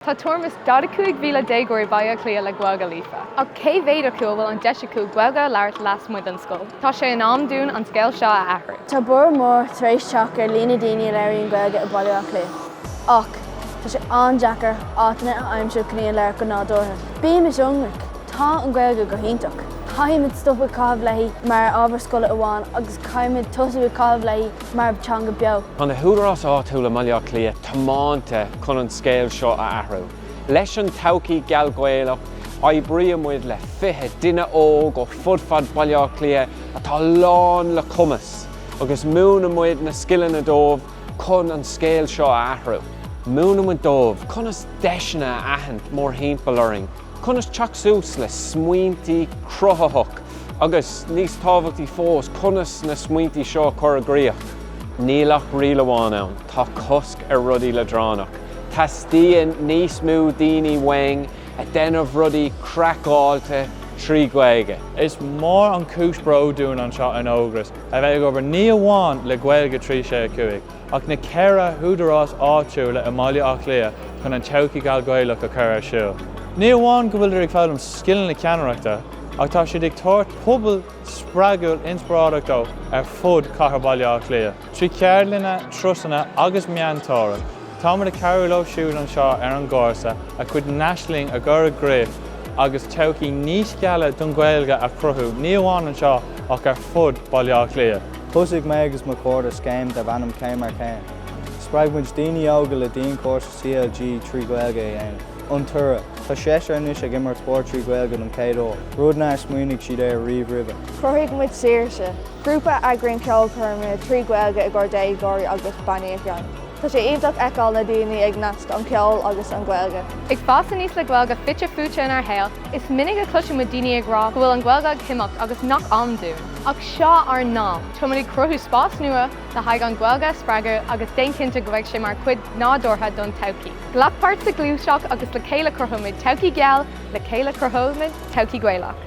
Tá tuairim is 45,000 déagóirí Baile Átha Cliath le Gaeilge líofa, ach cé mhéad acu a bhfuil an deis acu Gaeilge a labhairt lasmuigh den scoil? Tá sé in am dúinn an scéal seo a athrú. Tá borradh mór tar éis teacht ar líon na ndaoine a labhraíonn Gaeilge i mBaile Átha Cliath, ach tá sé an-deacair áiteanna a aimsiú chun í a labhairt go nádúrtha. Bímis ionraic, tá an Ghaeilge go hiontach. Caithfimid stopadh ag caitheamh léi mar ábhar scoile amháin agus caithfimid tosú ag caitheamh léi mar theanga bheo. Tá na hÚdaráis Áitiúla i mBaile Átha Cliath tiománta chun an scéal seo a athrú. Leis an todhchaí gheal Ghaelach, oibríonn muid le 20 duine óg ó fud fad Bhaile Átha Cliath atá lán le cumas agus múineann muid na scileanna dóibh chun an scéal seo a athrú. Múineann muid dóibh conas deiseanna a aithint mórthimpeall orainn. conas teacht suas le smaointí cruthaitheach agus, níos tábhachtaí fós, conas na smaointí seo a chur i gcríoch. Níl ach riail amháin ann, tá cosc ar rudaí leadránach. Teastaíonn níos mó daoine uainn ag déanamh rudaí craiceáilte trí Ghaeilge. Is mór an chúis bróid dúinn anseo in Ógras a bheith ag obair ní amháin le Gaeilge 365, ach na ceithre húdarás áitiúla i mBaile Átha Cliath chun an todhchaí gheal Ghaelach a chur ar siúl. Ní amháin go bhfuiltear ag foghlaim scileanna ceannaireachta ach tá siad ag tabhairt pobal spreagúil inspioráideach dó ar fud chathair Bhaile Átha Cliath. Trí cheardlanna, turasanna agus meantóireacht, táimid ag cabhrú leo siúd anseo ar an gcúrsa a gcuid n-aisling a chur i gcrích agus todhchaí níos geala don Ghaeilge a chruthú ní amháin anseo ach ar fud Bhaile Átha Cliath. Thosaigh mé agus mo chairde scéim darb ainm Céim ar Chéim. Spreag muid daoine óga le dianchúrsa CLG trí Ghaeilge a dhéanamh. An toradh? Tá seisear anois ag imirt spóirt trí Ghaeilge don chéad uair, rud nár smaoinigh siad air riamh roimhe. Chruthaigh muid Saoirse, grúpa a eagraíonn ceolchoirme trí Ghaeilge i gcomhair déagóirí agus bannaí. Tá sé iontach feiceáil na daoine ag nasc an ceol agus an Ghaeilge. Ag fás aníos le Gaeilge fite fuaite inár shaol, is minic a chloiseann muid daoine ag rá go bhfuil an Ghaeilge ag imeacht agus nach ann dúinn. Ach seo ár n-am. Táimid ag cruthú spás nua le haghaidh an Ghaeilge a spreagadh agus déan cinnte go mbeidh sé mar chuid nádúrtha don todhchaí. Glac páirt sa ghluaiseacht agus le chéile cruthóimid todhchaí gheal, le chéile cruthóimid todhchaí Ghaelach.